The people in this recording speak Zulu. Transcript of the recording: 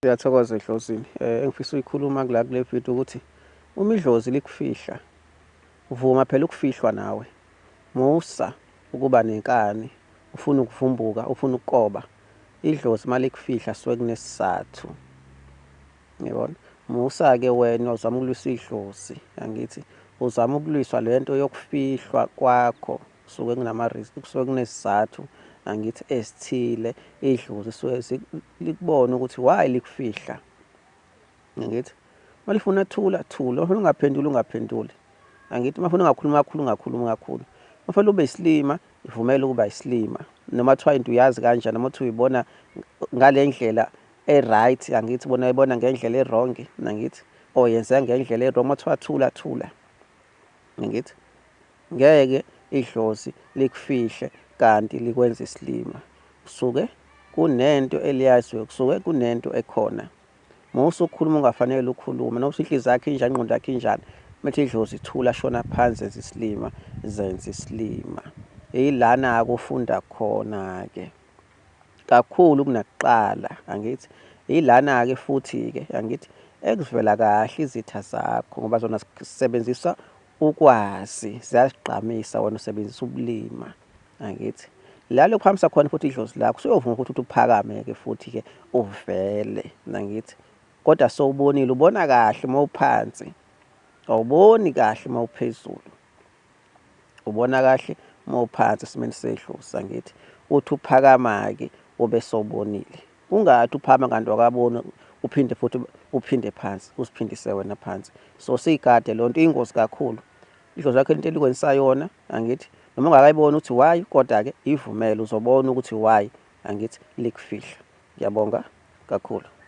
Siyathokoza eDlozini. Eh engifisa uyikhuluma kula kule video ukuthi uma idlozi likufihla vuma phela ukufihlwa nawe. Musa ukuba nenkani, ufuna ukuvumbuka, ufuna ukukoba. Idlozi malikufihla suke kunesizathu. Ngiyabona. Musa ke wena uzama ukulwisa idlozi, angithi uzama ukulwiswa lento yokufihlwa kwakho. kusuke kunama-risk kusuke kunesizathu angithi esithile idlozi suke likubona ukuthi why likufihla angithi uma lifuna thula thula uma ungaphenduli ungaphenduli angithi uma funa ungakhuluma kakhulu ungakhuluma kakhulu uma funa ube isilima ivumele ukuba isilima noma kuthiwa into uyazi kanjani noma uthi uyibona ngale ndlela e-right angithi bona uyibona ngendlela e-wrong nangithi or yenzeka ngendlela e-wrong uma kuthiwa thula thula ngithi Ngeke idlozi likufihle kanti likwenza isilima. Kusuke kunento eliyaziyo, kusuke kunento ekhona. Uma usukhuluma ungafanele ukhulume, noma inhliziyo yakhe injani, ingqondo yakhe injani, methi idlozi thula, shona phansi, zenza isilima, zenza isilima. Yilana-ke ufunda khona-ke kakhulu kunakuqala, angithi. Yilana-ke futhi-ke, angithi, ekuvela kahle izitha zakho ngoba zona zisebenzisa ukwazi ziyazigqamisa wena usebenzisa ubulima angithi la lokhu hambisa khona futhi idlozi lakho usuyovuma ukuthi uthi uphakame ke futhi ke uvele nangithi kodwa sowubonile ubona kahle uma uphansi awuboni kahle uma uphezulu ubona kahle uma uphansi esimeni sedlozi angithi uthi uphakama ke ube sobonile Ungathi uphama kanti wakabona uphinde futhi uphinde phansi usiphindise wena phansi so siyigade lo nto iyingozi kakhulu idlozi lakho into elikwenisa yona angithi noma ungakayiboni ukuthi why kodwa-ke ivumele uzobona ukuthi why angithi likufihla ngiyabonga kakhulu